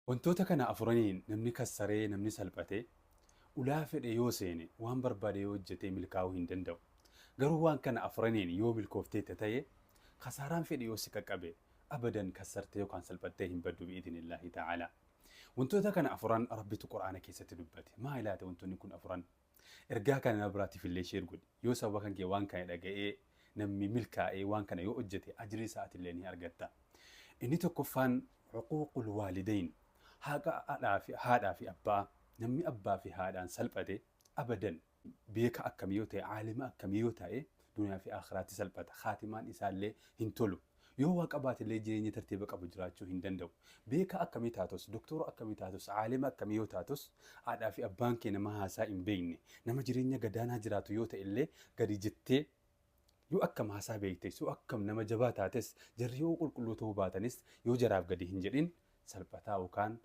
Wantoota kana afuraniin namni kassaree, namni salphate, ulaa fedhe yoo seene, waan barbaade yoo hojjete milkaa'uu hin danda'u. Garuu waan kana afuraniin yoo milkoofteetta ta'e, kasaaraan fedhe yoo si qaqqabe, abadan kassartee yookaan salphattee hin baddu bi'idhnillaahi ta'aalaa. Wantoota kana afuran Rabbitu Qur'aana keessatti dubbate. Maali laata wantoonni kun afuran? Ergaa kana nama biraatiif illee share godhi. Yoo sababa kan kee waan kana dhaga'ee namni milkaa'ee waan kana yoo hojjete ajrii isaa ati illee ni argatta. Inni tokkoffaan uquuqul waalidayn haqa adhaa fi haadhaa fi abbaa namni abbaa fi haadhaan salphate abadan beeka akkamii yoo ta'e aalima akkamii yoo ta'e duniyaa fi aakhiraatti salphata khaatimaan isaa illee hin tolu. Yoo waa qabaatellee jireenya tartiiba qabu jiraachuu hin danda'u. Beekaa akkamii taatus, doktoora akkamii taatus, aalima akkamii yoo taatus, haadhaa fi abbaan kee nama haasaa hin beekne, nama jireenya gadaanaa jiraatu yoo ta'ellee gadi jettee yoo akkam haasaa beektes, yoo akkam nama jabaa taates, jarri yoo qulqulluu ta'uu baatanis yoo jaraaf gadi hin jedhin salphataa yookaan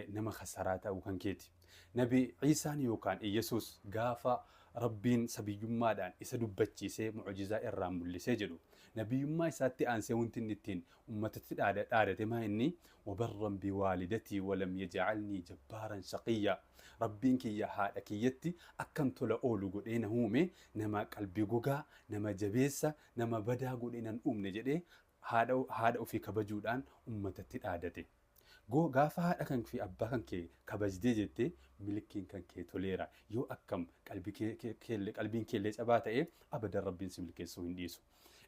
nama khasaraa ta'uu kan keeti. Nabi Iisaan yookaan Iyyasuus gaafa Rabbiin sabiyyummaadhaan isa dubbachiisee mu'ujizaa irraa mul'isee jedhu, nabiyyummaa isaatti aansee wanti inni ittiin ummatatti dhaadate maa inni, Wabarran biwaalidatii walam yaj'alnii jabbaaran shaqiyyaa, Rabbiin kiyya haadha kiyyatti akkan tola oolu godhee na uume, nama qalbii gogaa, nama jabeessa, nama badaa godhee nan uumne jedhee haadha ofii kabajuudhaan ummatatti dhaadate. Go Gaafa haadha kan fi abbaa kan kee kabajdee jette milkiin kan kee toleera yoo akkam qalbiin keellee cabaa ta'e abadan rabbiin si milkeessuu hin dhiisu.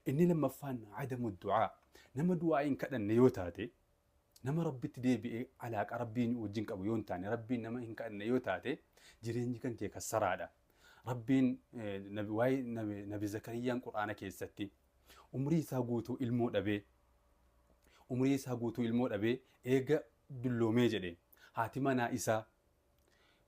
Inni lammaffaan adamu du'aa nama du'aa hin kadhanne yoo taate nama rabbitti deebi'ee alaaqa rabbiin wajjin qabu yoo hin taane rabbiin nama hin kadhanne yoo taate jireenyi kan kee kassaraadha. Rabbiin waa'ee nabi zakariyyaan quraana keessatti Umrii isaa guutuu ilmoo dhabee Umrii isaa guutuu ilmoo dhabee eega dulloomee jedhe haati manaa isaa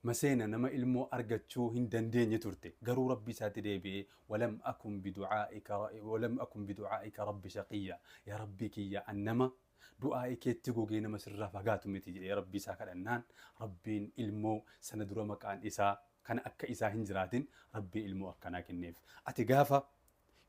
Maseena nama ilmoo argachuu hin dandeenye turte garuu Rabbi isaatti deebi'ee walam akun bidu'aa'ika walam akun bidu'aa'ika Rabbi shaqiyya yaa Rabbii kiyya an nama du'aa'ii keetti gogee nama sirraa fagaatu miti jedhee Rabbii isaa kadhannaan Rabbiin ilmoo sana dura maqaan isaa kana akka isaa hin jiraatin Rabbii ilmoo akkanaa kenneef ati gaafa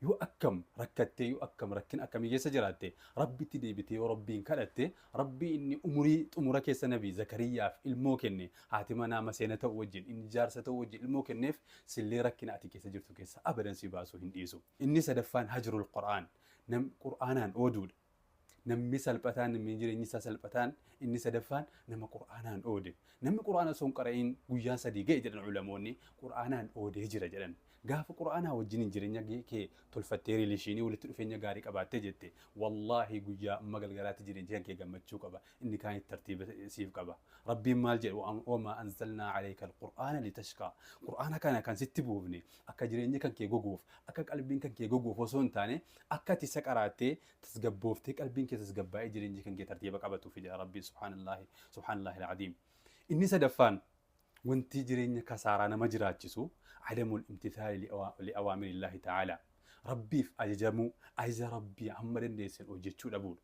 Yoo akkam rakkattee yoo akkam rakkina akkamii keessa jiraatte Rabbitti deebitee yoo Rabbiin kadhatte Rabbii inni umurii xumura keessa Nabii Zakariyyaaf ilmoo kenne haati manaa maseena ta'u wajjin inni jaarsa ta'u wajjin ilmoo kenneef sillee rakkina ati keessa jirtu keessa abadan si baasuu hin dhiisu. Inni sadaffaan hajrul qur'aan nam qur'aanaan ooduudha. Namni salphataan, namni jireenyi isaa salphataan, inni sadaffaan nama Qur'aanaan oode. Namni Qur'aana osoo hin qara'iin guyyaan sadii ga'e jedhan ulamoonni, Qur'aanaan oodee jira jedhan. Gaafa Qur'aanaa wajjiniin jireenya kee tolfattee, riileeshiinii, walitti dhufeenya gaarii qabaattee jette, wallaahi guyyaa amma galgalaatti jireenyi kan kee gammachuu qaba, inni kaanis tartiiba siif qaba. Rabbiin maal jedhe? Wamaa anzalnaa aleeyka al-Qur'aana litashqaa. Qur'aana kana kan sitti buufne, Akka jireenyi kan kee goguuf, akka qalbiin kan kee goguuf osoo hin taane, akka ati isa qaraattee tasgabbooftee qalbiin kee tasgabbaa'ee jireenyi kan kee tartiiba qabatuufi jedha Rabbiin subhaanallaahi subhaanallaahi al-aziim. Inni sadaffaan wanti jireenya kasaaraa nama jiraachisu adamul imtithaali li'awaamirillahi ta'aalaa. Rabbiif ajajamuu, ajaja Rabbii hamma dandeessan hojjechuu dhabuudha.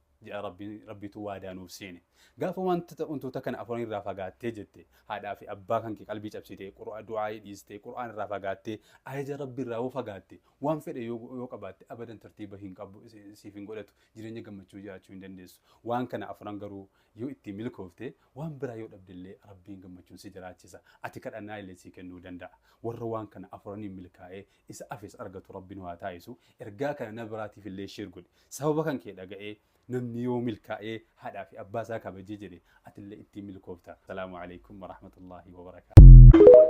ja'a Rabbiin, Rabbiitu waadaa nuuf seene. Gaafa wanta, wantoota kana afran irraa fagaattee jette, haadhaa fi abbaa kankee qalbii cabsitee, Qur'a, du'aa'ii dhiistee, Qur'aana irraa fagaattee, ajaja Rabbii irraa yoo fagaatte, waan fedhe yoo, yoo qabaatte abadan tartiiba hin qabu, si, siif hin godhatu, jireenya gammachuu jiraachuu hin dandeessu. Waan kana afran garuu yoo ittiin milkoofte, waan biraa yoo dhabde illee Rabbiin gammachuun si jiraachisa. Ati kadhannaan illee sii kennuu danda'a. Warra waan kana afraniin milkaa'ee isa afes argatu rabbi nu haa taaisu ergaa kana na biraatiif illee share godhi sababa kan kee dhaga'ee namni yoo milkaa'ee haadhaa fi abbaa isaa kabajee jedhe atillee ittiin milkoofta salaamu alaikum warahmatullaahi wabarakaatu